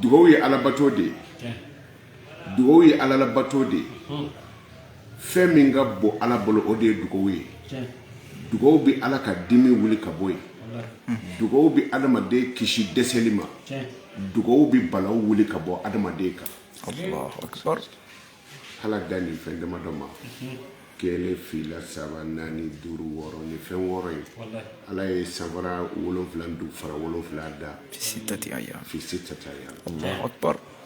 dugawu ye alabato de ye dugawu ye ala labato de ye fɛn min ka bon ala bolo o de ye dugawu ye dugawu bɛ ala ka dimi wuli ka bɔ yen dugawu bɛ adamaden kisi dɛsɛli ma dugawu bɛ balaw wuli ka bɔ adamaden kan hal'a dan nin fɛn damadɔ ma kelen fila saba naani duuru wɔɔrɔ ni fɛn wɔɔrɔ ye ala ye sanfara wolonwula dugu fara wolonwula da fi sittati ayyam fi sittati ayyam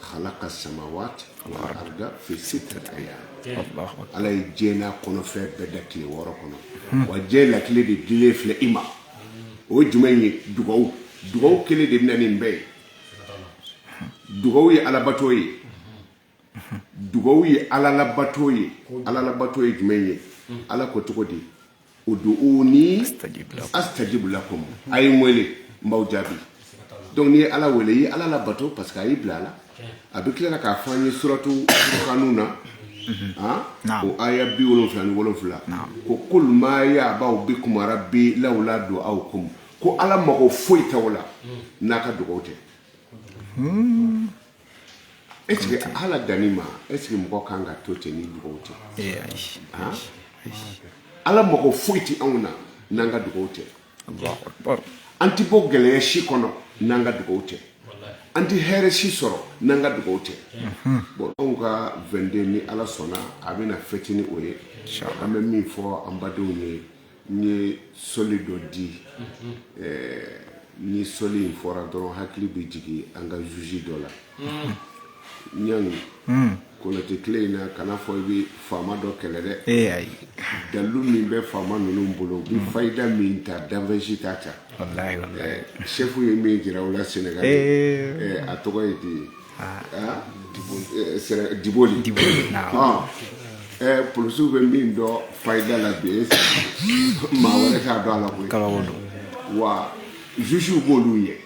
khalaka samawati wal arda fi sittati ayyam ala ye diɲɛ n'a kɔnɔfɛn bɛɛ da tile wɔɔrɔ kɔnɔ hmm. wa diɲɛ lakile de dilen filɛ i ma o ye jumɛn ye dugawu dugawu kelen de bɛ na nin bɛɛ ye dugawu ye alabato ye dugawu ye ala labato ye ala labato ye jumɛn ye ala ko cogo di ud'uni astajib lakum a ye n wele n b'aw jaabi donc n'i ye ala wele i ye ala labato parce que a y'i bila a la a bɛ tila k'a fɔ an ye suratu furukanu na ah, o aya biwolonfila ni wolonfila ko kul ma ya'ba'u bikum rabbi lawla du'aukum ko ala mago foyi t'aw la n'aw ka dugawu tɛ hmm. Est-ce que hal'a dan nin ma est-ce que mɔgɔ kan ka to ten ni dugawu tɛ ee ayi han ala mago foyi tɛ anw na n'an ka dugawu tɛ allahu akbar an tɛ bɔ gɛlɛya si kɔnɔ n'an ka dugawu tɛ an tɛ hɛrɛ si sɔrɔ n'an ka dugawu tɛ bon anw ka 22 ni ala sɔnna a bɛna fɛti ni o ye an bɛ min fɔ an badenw ye N ye sɔli dɔ di ni sɔli in fɔra dɔrɔn hakili bɛ jigin an ka juge dɔ la ɲani kotɛ tile in na kana fɔ i bɛ faama dɔ kɛlɛ dɛ ee ayi dalilu min bɛ faama ninnu bolo bi faida min ta danfɛnsi ta ta sɛfu ye min jira u la senegali a tɔgɔ ye de ye diboli polisiw bɛ min dɔn faida la bi maa wɛrɛ t'a dɔn ala kɔ i k'ala dɔn wa jugew b'olu ye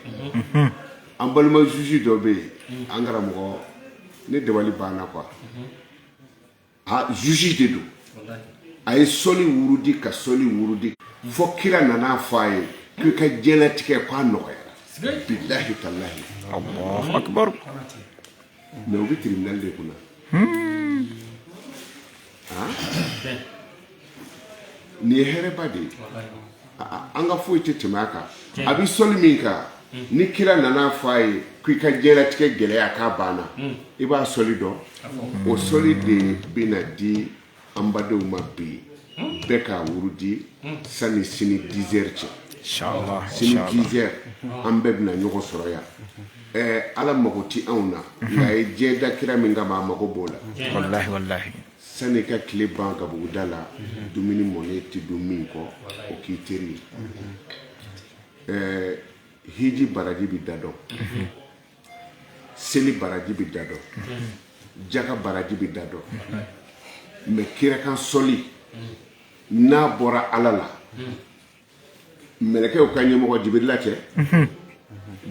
an balima juge dɔ bɛ yen an karamɔgɔ ne dabali banna quoi a juge de don a ye sɔli wurudi ka sɔli wurudi fɔ kira nana a fɔ a ye k'i ka diɲɛlatigɛ k'a nɔgɔyara billahi tallahi mais o bɛ tribunal de kunna nin ye hɛrɛba de ye an ka foyi tɛ tɛmɛ a kan a bɛ sɔli min kan ni kira nana fɔ a ye ko i ka diɲɛlatigɛ gɛlɛya k'a banna i b'a sɔli dɔn o sɔli de bɛna di an badenw ma bi bɛɛ k'a wurudi sani sini dizɛri cɛ sini dizɛri an bɛɛ bɛna ɲɔgɔn sɔrɔ yan ala mago tɛ anw na nka a ye diɲɛ da kira min kama a mago b'o la sani ka tile ban gabuguda la dumuni mɔnen tɛ dun min kɔ o k'i teri ye ɛɛ hiji baraji bɛ da dɔn seli baraji bɛ da dɔn jaka baraji bɛ da dɔn mɛ kira kan sɔli n'a bɔra ala la mɛlɛkɛw ka ɲɛmɔgɔ jibirila cɛ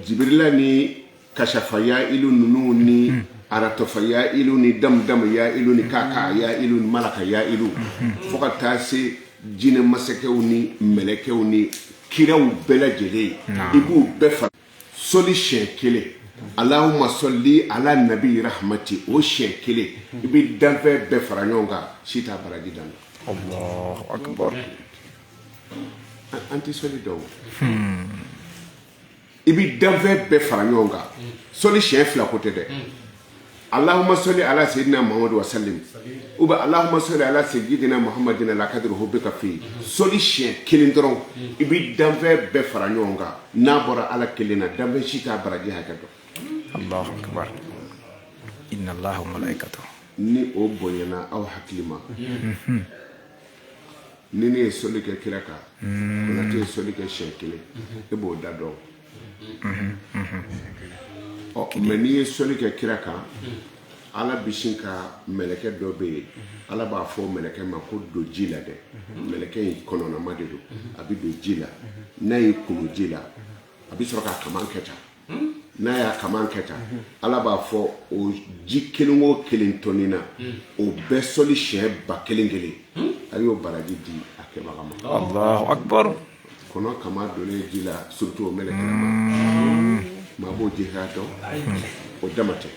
jibirila ni kasafa ya ilu ninnu ni hmm. aratofa ya ilu ni damudama ya ilu ni kaka ya ilu ni malaka ya ilu hmm. fo ka taa se jinɛ masakɛw ni mɛlɛkɛw ni kiraw bɛɛ lajɛlen i b'u bɛɛ fara soli siɲɛ kelen alahuma sɔli ala nabi rahamati o siɲɛ kelen i bɛ danfɛn bɛɛ fara ɲɔgɔn kan si t'a baraji dan an tɛ soli dɔn i bɛ danfɛn bɛɛ fara ɲɔgɔn kan soli siɲɛ fila ko tɛ dɛ alahuma sɔli ala sayidina muhamadu wasalimu ou bien alahuma sɔli ala sayidina muhamadin ala kadiri hubika fi soli siyɛn kelen dɔrɔn i bɛ danfɛn bɛɛ fara ɲɔgɔn kan n'a bɔra ala kelen na danfɛn si t'a baraji hakɛ dɔn ni o bonyana aw hakili ma ni ne ye soli kɛ kira kan tɛ ye soli kɛ siyɛn kelen e b'o da dɔn mɛ n'i ye sɔli kɛ kira kan ala bɛ sin ka mɛlɛkɛ dɔ bɛ yen ala b'a fɔ mɛlɛkɛ ma ko don ji la dɛ mɛlɛkɛ in kɔnɔnama de don a bɛ don ji la n'a ye kulu ji la a bɛ sɔrɔ k'a kaman kɛ tan n'a y'a kaman kɛ tan ala b'a fɔ o ji kelen o kelen tɔnina o bɛɛ sɔli siɲɛ ba kelen kelen a y'o baraji di a kɛbaga ma kɔnɔ kaman donnen ji la surtout o mɛlɛkɛ maa b'o ji hakɛ dɔn o dama tɛ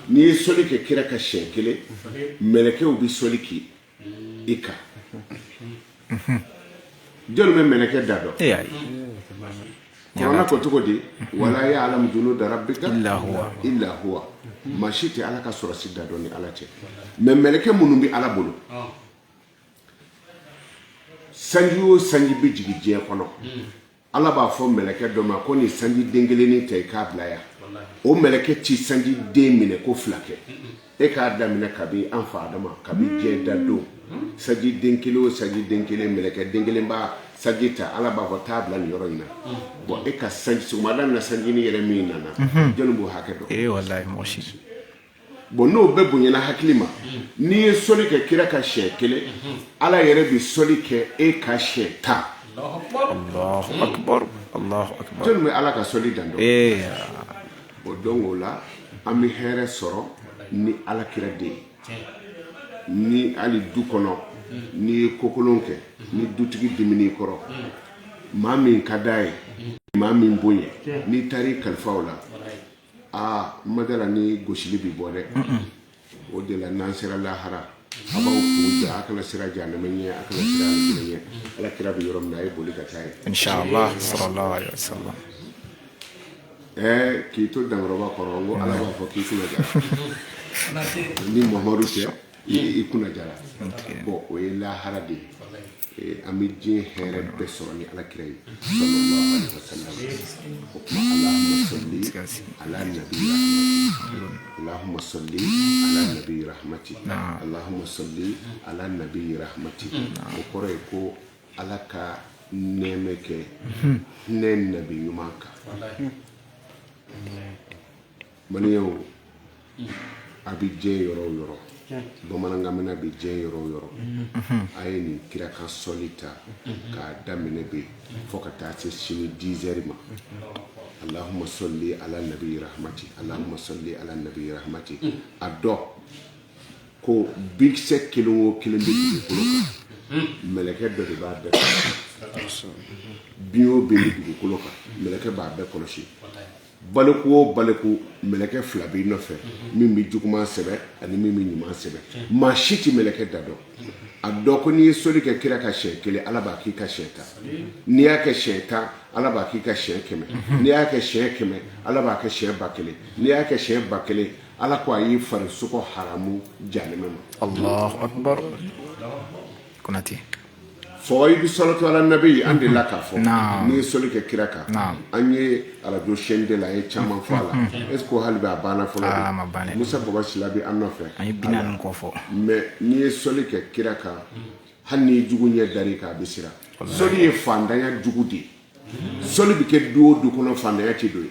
n'i ye soli kɛ kira kan siyɛn kelen mɛlɛkɛw bɛ soli kɛ i kan jɔn bɛ mɛlɛkɛ da dɔn kurana ko cogo di wala yalamu junuda rabika ila huwa maa si tɛ ala ka sɔrɔdasi da dɔn ni ala tɛ mɛ mɛlɛkɛ minnu bɛ ala bolo sanji o sanji bɛ jigin diɲɛ kɔnɔ ala b'a fɔ mɛlɛkɛ dɔ ma ko nin sanji den kelennin ta i k'a bila yan o mɛlɛkɛ tɛ sanji den minɛ ko fila kɛ e k'a daminɛ kabi an fa adama kabi diɲɛ da don sanji den kelen o sanji den kelen mɛlɛkɛ den kelen b'a sanji ta ala b'a fɔ taa bila nin yɔrɔ in na bon e ka sanji sɔgɔmada na sanjini yɛrɛ min nana jɔnni b'o hakɛ dɔn bon n'o bɛɛ bonyana hakili ma n'i ye sɔli kɛ kira ka siɲɛ kelen ala yɛrɛ bɛ sɔli kɛ e ka siɲɛ tan jɔni bɛ ala ka sɔli dan dɔn o donc o la an bɛ hɛrɛ sɔrɔ ni ala kira de ye ni hali du kɔnɔ n'i ye kokolon kɛ ni dutigi dimin'i kɔrɔ maa min ka d'a ye maa min bonya n'i taar'i kalifa o la aa madala ni gosili bɛ bɔ dɛ o de la n'an sera lahara a b'aw kun ja a kana sira jahanama ɲɛ a kana sira alijinɛ ɲɛ ala kira bɛ yɔrɔ min na a ye boli ka taa ye ɛɛ k'i to dankɔrɔba kɔrɔ ko ala b'a fɔ k'i kunna jara ni mamadu tɛ i kunna jara bɔn o ye lahara de ye an bɛ diɲɛ hɛrɛ bɛɛ sɔrɔ ni ala kira ye o tuma ala sɔli ala nabi alahuma sɔli ala nabi rahmati alahuma sɔli ala nabi rahmati o kɔrɔ ye ko ala ka nɛɛmɛ kɛ ne nabi ɲuman kan Maliyɛnw a bɛ diɲɛ yɔrɔ o yɔrɔ bamanankan mɛnna bɛ diɲɛ yɔrɔ o yɔrɔ a ye nin kira kan sɔli ta k'a daminɛ bi fo ka taa se sini dizɛri ma alahuma sɔli ala nabi rahmati alahuma sɔli ala nabi rahmati a dɔn ko binkisɛ kelen o kelen bɛ dugukolo kan mɛlɛkɛ dɔ de b'a bɛɛ kɔlɔsi bin o bin bɛ dugukolo kan mɛlɛkɛ b'a bɛɛ kɔlɔsi Baliku o baliku mɛlɛkɛ fila b'i nɔfɛ min bɛ juguman sɛbɛn ani min bɛ ɲuman sɛbɛn maa si tɛ mɛlɛkɛ da dɔn a dɔn ko n'i ye soli kɛ kira ka siyɛn kelen Ala b'a k'i ka siyɛn tan n'i y'a kɛ siyɛn tan Ala b'a k'i ka siyɛn kɛmɛ n'i y'a kɛ siyɛn kɛmɛ Ala b'a kɛ siyɛn ba kelen n'i y'a kɛ siyɛn ba kelen Ala ko a y'i farisogo haramu jahanɛmɛ ma. Alahu akibaru Konate. sɔlatu ala nabi an de la k'a fɔ n'i ye soli kɛ kira kan an ye arajo chaîne deux la ye caman fɔ a la est-ce que hali bi a banna fɔlɔ musa baba sila bɛ an nɔfɛ an kɔ fɔ mais n'i ye soli kɛ kira kan hali n'i jugu ɲɛ dar'i kan a bɛ siran soli ye faantanya jugu de ye soli bɛ kɛ du o du kɔnɔ faantanya tɛ don yen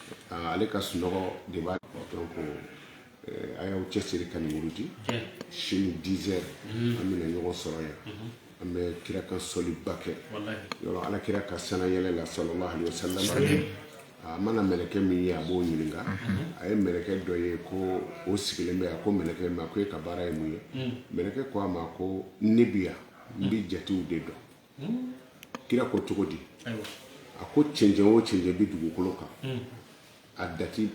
ale ka sunɔgɔ de b'a donc a y'aw cɛsiri ka nin wurudi sini dix heures an bɛna ɲɔgɔn sɔrɔ yan an bɛ kira kan sɔliba kɛ yɔrɔ ala kira ka sanayɛlɛ la sallallahu alaihi wasallam a mana mɛlɛkɛ min ye a b'o ɲininka a ye mɛlɛkɛ dɔ ye ko o sigilen bɛ a ko mɛlɛkɛ ma ko e ka baara ye mun ye mɛlɛkɛ ko a ma ko ne bi yan n bɛ jatew de dɔn kira ko cogo di a ko cɛncɛn o cɛncɛn bɛ dugukolo kan hmm. a dati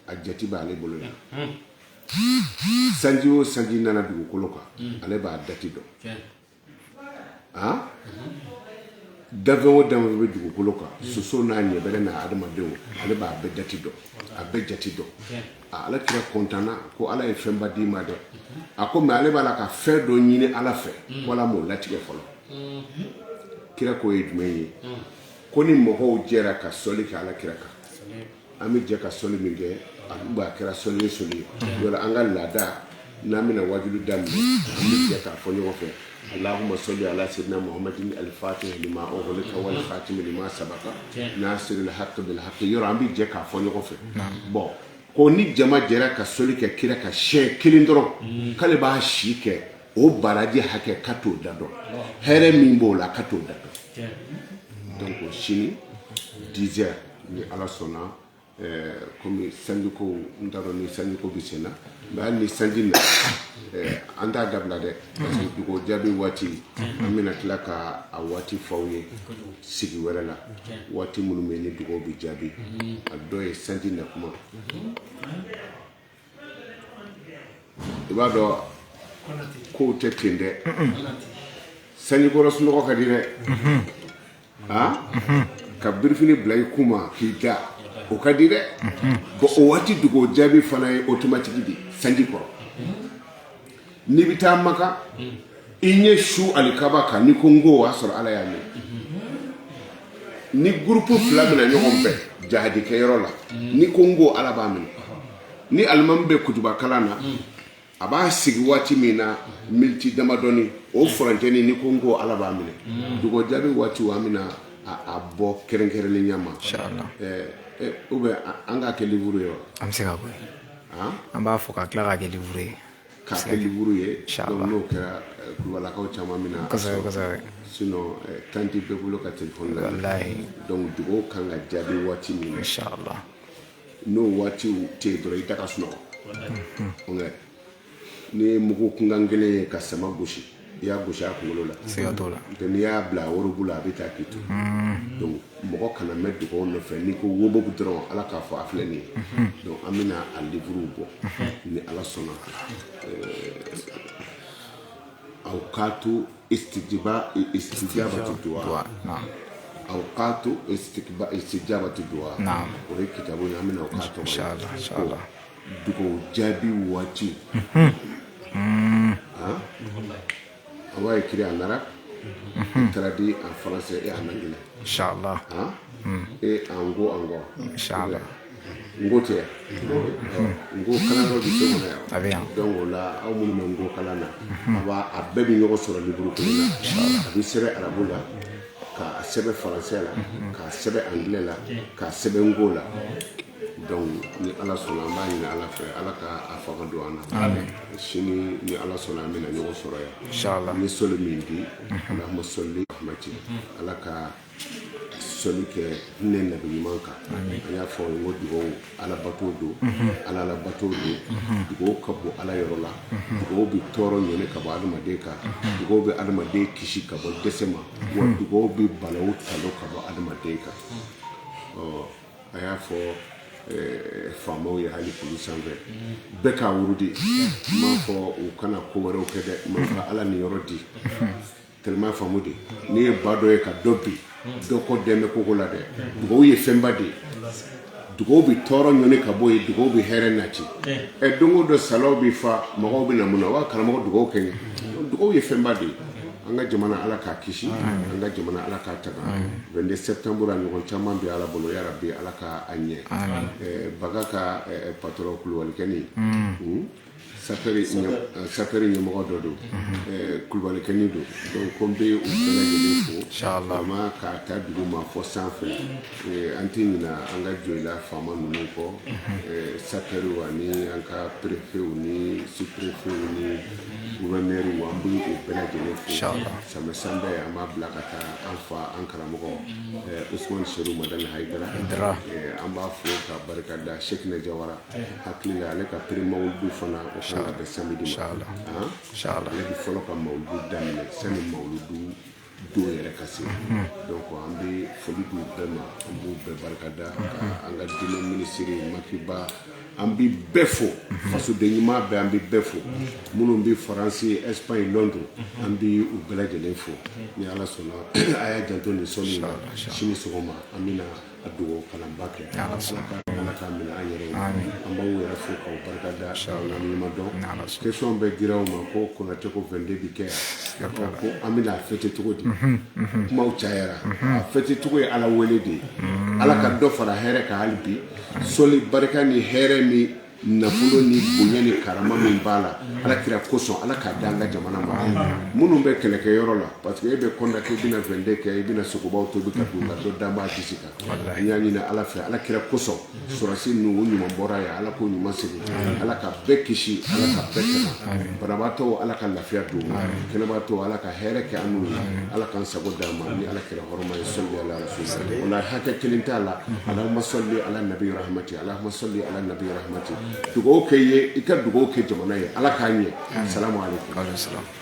a jati b'ale bolo yan hmm. sanji o sanji nana dugukolo kan hmm. ale b'a dati dɔn a danfɛn o danfɛn bɛ dugukolo kan soso n'a ɲɛbɛrɛ n'a adamadenw ale b'a bɛɛ dati dɔn a bɛɛ jati dɔn ala kira kɔntanna ko ala ye fɛnba d'i ma dɛ a ko mais ale b'a la ka fɛn dɔ ɲini ala fɛ ko ala m'o latigɛ fɔlɔ kira k'o ye jumɛn ye ko ni mɔgɔw jɛra ka sɔli kɛ ala kira kan an bɛ jɛ ka sɔli min kɛ a b'a kɛra sɔli ye sɔli ye yɔrɔ an ka laada N'an bɛna waju da k'a fɔ ɲɔgɔn fɛ ma sɔli ala se maha ka saba n'a siri ha yɔrɔ an bɛ jɛ k'a fɔ ɲɔgɔn fɛ bɔn ko ni jama jɛra ka soli kɛ kira ka sɛ kelen dɔrɔn k'ale b'a si kɛ o baraji hakɛ ka t'o da dɔn hɛ min b'o la ka t'o da dɔn sini dizse ni ala sɔnna Ɛɛ kɔmi sanji ko n t'a dɔn ni sanji ko bɛ sen na mais hali ni sanji na an t'a dabila dɛ parce que dugaw jaabi waati an bɛna tila ka a waati f'aw ye sigi wɛrɛ la waati minnu bɛ ni dugaw bɛ jaabi a dɔ ye sanji na kuma i b'a dɔn kow tɛ ten dɛ sanjikɔrɔ sunɔgɔ ka di dɛ ka birifini bila i kunma k'i da o ka di dɛ bon o waati dugaw jaabi fana ye automatique di sanji kɔrɔ n'i bɛ taa maka i ɲɛ su alikaba kan n'i ko n ko o y'a sɔrɔ ala y'a mɛn ni gurupu fila bɛna ɲɔgɔn bɛn jahadikɛ yɔrɔ la n'i ko n ko ala b'a minɛ ni alimami bɛ kutuba kalan na a b'a sigi waati min na miniti damadɔni o furancɛni n'i ko n ko ala b'a minɛ dugaw jaabi waati an bɛna a bɔ kɛrɛnkɛrɛnnenya ma ou bien an k'a kɛ liburu ye wa an bɛ se ka bɔ an b'a fɔ ka tila k'a kɛ liburu ye K'a kɛ liburu ye donc n'o kɛra kulubalakaw caman min na sinon temps tɛ bɛɛ bolo ka téléphone la donc dugaw ka kan ka jaabi waati min n'o waatiw tɛ yen dɔrɔn i da ka sunɔgɔ n'i ye mugu kunkan kelen ye ka sama gosi i y'a gosi a kunkolo la siga t'o la n'i y'a bila a worobu la a bɛ taa k'i to donc mɔgɔ kana mɛn dugaw nɔfɛ n'i ko woboku dɔrɔn ala k'a fɔ a filɛ nin ye donc an bɛna a livre bɔ ni ala sɔnna awqatu istijiba istijabatu duwa awqatu istijabatu duwa o ye kitabu ye an bɛna o k'a tɔgɔ ye dugaw jaabi waati on va écrire en arabe traduit en français et en anglais inshallah et en nko en nko inshallah nko tɛ nko kalan dɔ bɛ se kɔnɔ a bɛ yan yan donc o la aw minnu bɛ nko kalan na a b'a a bɛɛ bɛ ɲɔgɔn sɔrɔ liburu kelen na a bɛ sɛbɛn arabu la k'a sɛbɛn faransɛ la k'a sɛbɛn angilɛ la k'a sɛbɛn nko la donc ni ala sɔnna an b'a ɲini ala fɛ ala ka a fanga don an na Amen. sini ni ala sɔnna an bɛna ɲɔgɔn sɔrɔ yan Inshallah. ni sɔli min di alahuma sɔli rahmati ala ka sɔli kɛ hinɛ nabi ɲuman kan an y'a fɔ n ko dugawu ala bato don ala la bato don dugawu ka bon ala yɔrɔ la dugawu bɛ tɔɔrɔ ɲɔni ka bɔ adamaden kan dugawu bɛ adamaden kisi ka bɔ dɛsɛ ma wa dugawu bɛ balawu talo ka bɔ adamaden kan a y'a fɔ eh, faamaw ye hali kulu sanfɛ bɛɛ k'a wurudi n m'a fɔ u kana ko wɛrɛw kɛ dɛ n m'a fɔ ala niyɔrɔ di tellement faamu de n'i ye ba dɔ ye ka dɔ bi dɔ kɔ dɛmɛ koko la dɛ dugawu ye fɛnba de ye dugawu bɛ tɔɔrɔ ɲɔni ka bɔ yen dugawu bɛ hɛrɛ nati ɛ don o don salaw bɛ fa mɔgɔw bɛ na mun na wa karamɔgɔ dugawu kɛ n ye dugawu ye fɛnba de ye An ka jamana ala k'a kisi an ka jamana ala k'a tanga vingt-deux septembre a ɲɔgɔn caman bɛ ala bolo yarabi ala ka a ɲɛ bagan ka patron kulubalikɛni sapɛri ɲɛmɔgɔ dɔ don kulubalikɛni don ko n bɛ fo ka ta dugu ma fo sanfɛ an tɛ ɲina an ka jɔyila faama ninnu kɔ sapɛriw ani an ka préfetw ni sous-préfetw ni gouverneur an bɛ u bɛɛ lajɛlen fo sanbɛ sanbɛ an b'a bila ka taa an fa an karamɔgɔ usumani serifu madani hayidara an b'a fo k'a barika da sɛkina jawara hakili la ale ka pré-mawuludu fana o bɛ samedi la ale bɛ fɔlɔ ka mawuludu daminɛ sani mawuludu don yɛrɛ ka se donc an bɛ foli d'u bɛɛ ma an b'u bɛɛ barika da an ka diinɛ minisiri maki ba an bɛ bɛɛ fo fasoden ɲuman bɛɛ an bɛ bɛɛ fo minnu bɛ faransi espagne londres an bɛ u bɛɛ lajɛlen fo ni ala sɔnna a y'a janto nin sɔnni na sini sɔgɔma an bɛ na a dugawu kalanba kɛ Ni Ala sɔnna Ala ka Ala k'a minɛ an yɛrɛ ye aami an b'aw yɛrɛ fo k'aw barika da inchallah an ɲuman dɔn Ni Ala sɔnna question de dira aw ma ko Konate ko 22 bi kɛ yan siga t'a la ko an bɛna a fêter cogo di unhun unhun kumaw cayara unhun a fêter cogo ye Ala wele de ye unhun Ala ka dɔ fara hɛrɛ kan hali bi sɔli barika ni hɛrɛ ni nafolo ni bonya ni karama min b'a la ala kira kosɔn ala k'a di an ka jamana ma minnu bɛ kɛlɛkɛ yɔrɔ la parce que e bɛ kɔntan k'i bɛna 22 kɛ i bɛna sogobaw tobi k'a dun nka dɔ den bɛ kisɛ kan an y'a ɲini ala fɛ ala kira kosɔn sɔrɔsi ninnu u ɲuman bɔra yan ala k'u ɲuman segin ala ka bɛɛ kisi ala ka bɛɛ kana banabaatɔ ala ka lafiya d'u ma kɛnɛbaatɔ ala ka hɛrɛ kɛ an n'u ye ala k'an sago d'an ma ni ala kira hɔrɔma ye sɔli ala rasul wala hakɛ kelen t'a la Alahuma sɔli ala nabi rahmati Alahuma sɔli ala nabi rahmati dugawu kɛ i ye i ka dugawu kɛ jamana ye ala k'a ɲɛ salamu aleykum